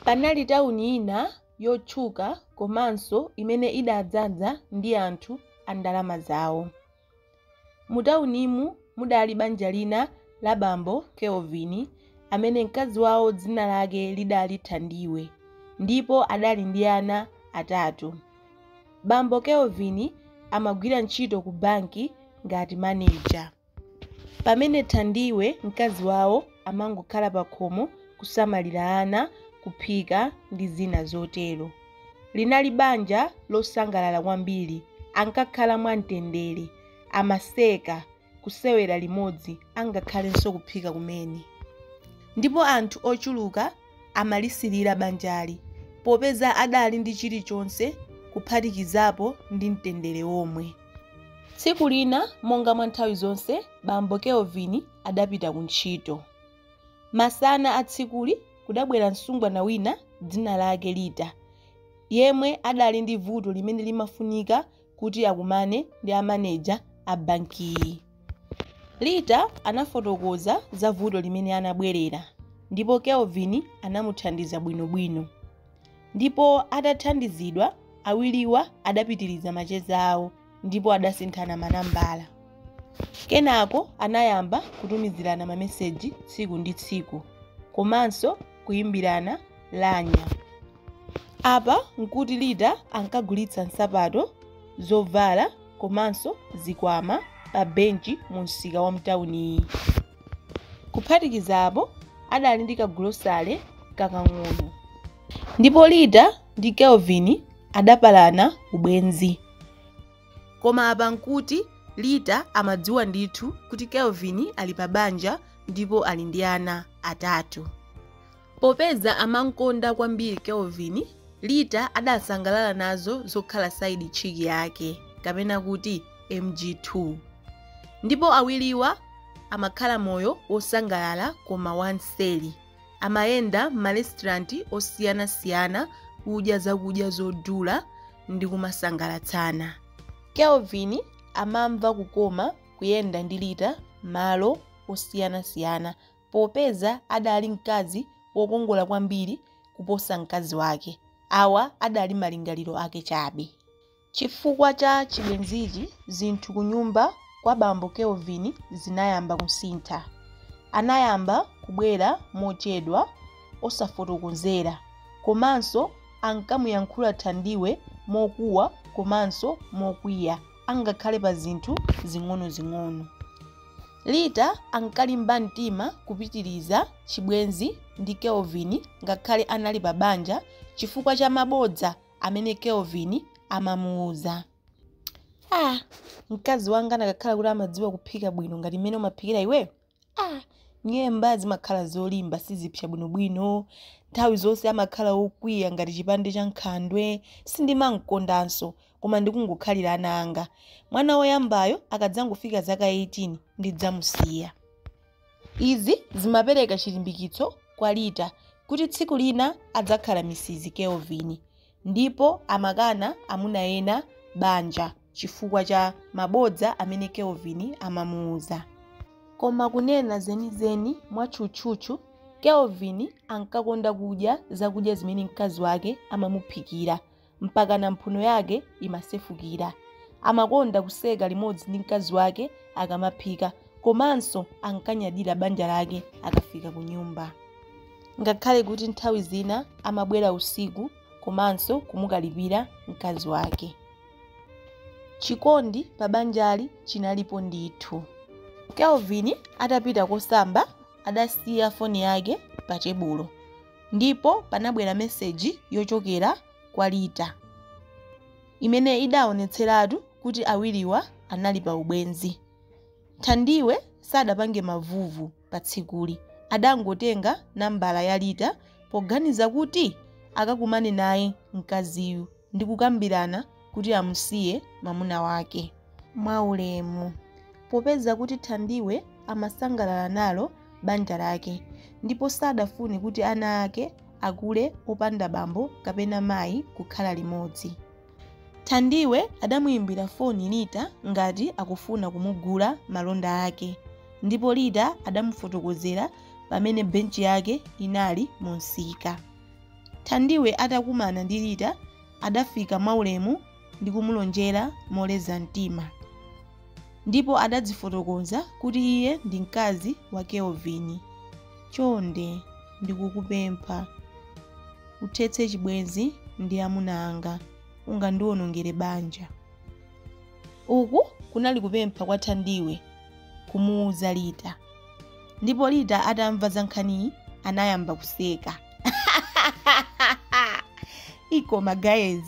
Panali tauni ina yotchuka komanso imene idadzaza ndi anthu a ndalama zawo. Mutaunimu mudali banja lina la bambo Kelvin amene mkazi wawo dzina lake lidali Thandiwe ndipo adali ndi ana atatu. Bambo Kelvin amagwira ntchito kubanki ngati maneja. Pamene Thandiwe, mkazi wawo, amangokhala pakhomo kusamalira ana, kuphika ndi zina zotero. Linali banja losangalala kwambiri. Ankakhala mwamtendere, amaseka, kusewera limodzi angakhalenso kuphika kumene. Ndipo anthu ochuluka amalisilira banjali popeza adali ndi chilichonse kuphatikizapo ndi mtendere womwe. Tsiku lina monga mwa nthawi zonse bambo Kelvin adapita ku ntchito. Masana a tsikuli kudabwera msungwana wina dzina lake Lita yemwe adali ndi vuto limene limafunika kuti akumane ndi a maneja a bankiyi. Lita anafotokoza za vuto limene anabwerera ndipo Kelvin anamuthandiza bwinobwino. Ndipo atathandizidwa, awiriwa adapitiriza macheza awo ndipo adasinthana manambala. Kenako anayamba kutumizirana mameseji tsiku ndi tsiku komanso kuimbirana lamya. Apa n'kuti Lita ankagulitsa nsapato, zovala komanso zikwama pa benchi mu msika wa mtauniyi. Kuphatikizapo, adali ndi kagulosale kakang'ono. Ndipo Lita ndi Kelvin adapalana ubwenzi. Koma apa n'kuti Lita amadziwa ndithu kuti Kelvin ali pa banja ndipo ali ndi ana atatu. Popeza amamkonda kwambiri Kelvin, Lita adasangalala nazo zokhala side chick yake, kapena kuti MG2. Ndipo awiriwa amakhala moyo wosangalala koma wamseri. Amayenda m'marestaurant osiyanasiyana kudya zakudya zodula ndi kumasangalatsana. Kelvin amamva kukoma kuyenda ndi Lita malo osiyanasiyana popeza adali mkazi wokongola kwambiri kuposa mkazi wake. Awa adali malingaliro ake chabe. Chifukwa cha chibwenzichi, zinthu kunyumba kwa bambo Kelvin zinayamba kusintha. Anayamba kubwera mochedwa, osafotokozera, komanso ankamuyankhula Thandiwe mokuwa komanso mokwiya angakhale pa zinthu zing'onozing'ono. Lita ankalimba mtima kupitiriza chibwenzi ndi Kelvin ngakhale anali pa banja chifukwa cha mabodza amene Kelvin amamuuza. Ah, mkazi wanga anakakhala kuti amadziwa kuphika bwino ngati mmene umaphikira iwe, ah, nyemba zimakhala zolimba sizipsa bwinobwino, nthawi zonse amakhala wokwiya ngati chipande cha nkhandwe, sindimam'kondanso. koma ndikungokhalira ana anga. Mwana woyambayo akadzangofika zaka 18, ndidzamusiya. Izi zimapereka chilimbikitso kwa Lita kuti tsiku lina adzakhala Mrs. Kelvin. Ndipo amakana amuna ena banja chifukwa cha mabodza amene Kelvin amamuuza. Koma kunena zenizeni, mwatchutchutchu, Kelvin ankakonda kudya zakudya zimene mkazi wake amamuphikira. mpakana mphuno yake imasefukira. Amakonda kuseka limodzi ndi mkazi wake akamaphika komanso ankanyadira banja lake akafika kunyumba. Ngakhale kuti nthawi zina amabwera usiku komanso kumukalipira mkazi wake. Chikondi pa banjali chinalipo ndithu. Kelvin atapita kosamba adasiya foni yake patebulo. Ndipo panabwera meseji yochokera kwa Lita imene idaonetseratu kuti awiriwa anali pa ubwenzi. Thandiwe sadapange mavuvu pa tsikuli, adangotenga nambala ya Lita poganiza kuti akakumane naye mkaziyu. ndi kukambirana kuti amusiye mwamuna wake mwaulemu. Popeza kuti Thandiwe amasangalala nalo banja lake ndipo sadafune kuti ana ake akule opanda bambo kapena mayi kukhala limodzi, Thandiwe adamuimbira foni Lita ngati akufuna kumugula malonda ake ndipo Lita adamufotokozera pamene benchi yake inali mumsika. Thandiwe atakumana ndi Lita adafika mwaulemu ndi kumulonjera moleza mtima. Ndipo adadzifotokoza kuti iye ndi mkazi wa Kelvin. Chonde ndikukupempha uthetse chibwenzi ndi amuna anga. Ungandiwonongere banja. Uku kunali kupempha kwa Thandiwe kumuuza Lita. Ndipo Lita atamva za nkhaniyi anayamba kuseka. ikoma guys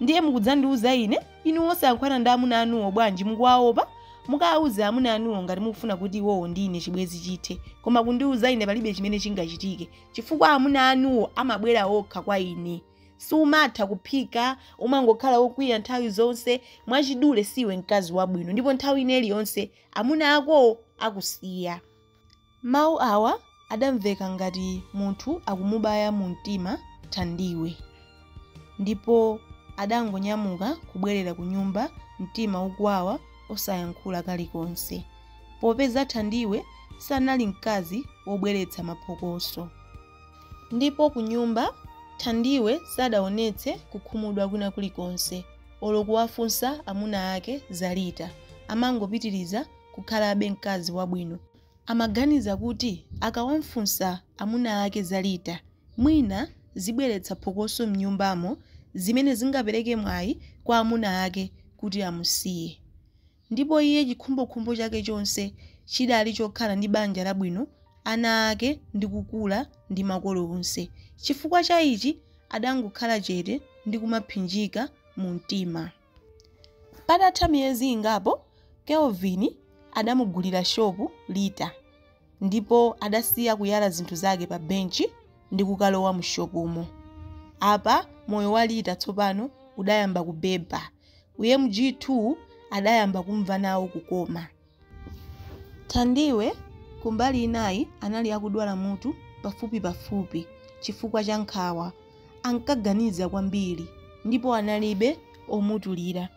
ndiye mukudzandiuza ine inu osakakangana ndi amuna anuwo bwanji mukuwaopa mukawauze amuna anuwo ngati mukufuna kuti iwowo ndi ine chibwenzi chithe koma kundiuza ine palibe chimene chingachitike chifukwa amuna anuwo amabwera okha kwa ine sumatha kuphika umangokhala wokwiya nthawi zonse mwachidule siwe mkazi wabwino ndipo nthawi ina iliyonse amuna akowo akusiya Mawu awa adamveka ngati munthu akumubaya mumtima Thandiwe ndipo adangonyamuka kubwerera kunyumba mtima ukuwawa osayankhula kalikonse popeza Thandiwe sanali mkazi wobweretsa maphokoso ndipo kunyumba Thandiwe sadaonetse kukhumudwa kwina kulikonse olo kuwafunsa amuna ake za Lita amangopitiriza kukhalabe mkazi wabwino Amaganiza kuti akawamfunsa amuna ake za Lita, mwina zibweretsa phokoso m'nyumbamo zimene zingapereke mwayi kwa amuna ake kuti amusiye. Ndipo iye chikhumbokhumbo chake chonse chidali chokhala ndi banja labwino, ana ake ndi kukula ndi makolo onse. Chifukwa cha ichi adangokhala chete ndi kumaphinjika mu mtima. Patatha miyezi ingapo, Kelvin adamugulira shopu Lita ndipo adasiya kuyala zinthu zake pabenchi ndi kukalowa mushopumo. Apa moyo wa Lita tsopano udayamba kubeba. U MG2 adayamba kumva nawo kukoma. Thandiwe, kumbali inayi, anali akudwala mutu pafupipafupi chifukwa cha nkhawa. Ankaganiza kwambiri ndipo analibe omutulira.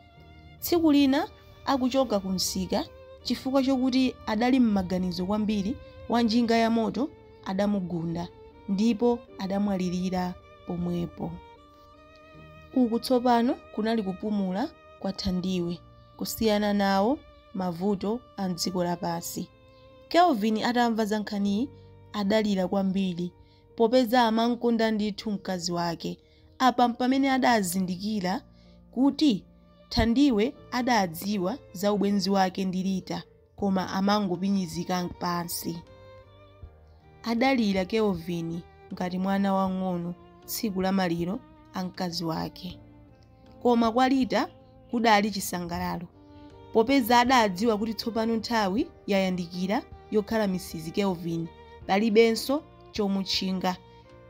Tsiku lina akuchoka kumsika, chifukwa chokuti adali m'maganizo kwambiri, wanjinga yamoto adamugunda ndipo adamwalirira pomwepo. Uku tsopano kunali kupumula kwa Thandiwe kusiyana nawo mavuto a m'dziko lapansi. Kelvin atamva za nkhaniyi adalira kwambiri popeza amam'konda ndithu mkazi wake. Apa m'pamene adazindikira kuti Thandiwe adadziwa za ubwenzi wake ndi Lita koma amangopinyizika pansi. Adalira Kelvin ngati mwana wamng'ono tsiku la maliro a mkazi wake. Koma kwa Lita kudali chisangalalo popeza adadziwa kuti tsopano nthawi yayandikira yokhala Mrs. Kelvin, palibenso chomutchinga.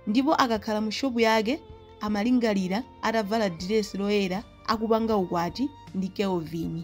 Ndipo akakhala mu shopu yake amalingalira atavala diresi loyera akupanga ukwati ndi Kelvin.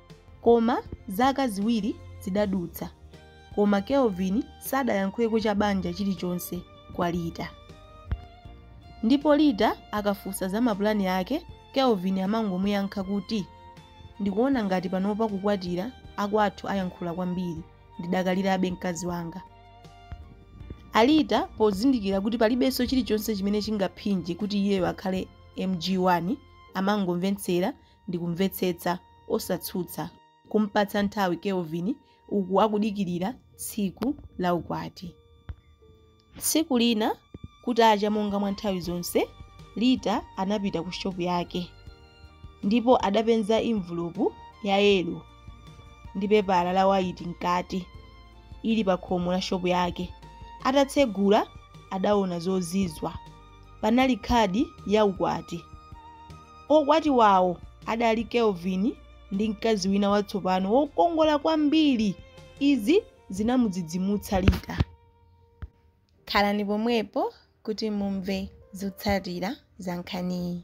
Koma zaka ziwiri zidadutsa koma Kelvin sadayankhuleko cha banja chilichonse kwa Rita. Ndipo Rita akafunsa za mapulani ake, Kelvin amangomuyankha kuti, Ndikuona ngati panopa kukwatira, akwathu ayankhula kwambiri, ndidakalirabe mkazi wanga. A Rita pozindikira kuti palibenso chilichonse chimene chingaphinje kuti iyeyo akhale MG1, amangomvetsera ndi kumvetsetsa, osatsutsa, kumpatsa nthawi Kelvin uku akudikirira tsiku la ukwati. Tsiku lina kutacha monga mwa nthawi zonse, Rita anapita ku shopu yake ndipo adapenza envelope ya yelo ndi pepala la waiti mkati ili pa khomo la shopu yake. Atatsegula adaona zozizwa. panali khadi ya ukwati. Okwatiwawo adali Kelvin ndi mkazi wina watsopano wokongola kwambiri. Izi zinamudzidzimutsa Rita. Khalani pomwepo kuti mumve zotsatira za nkhaniyi.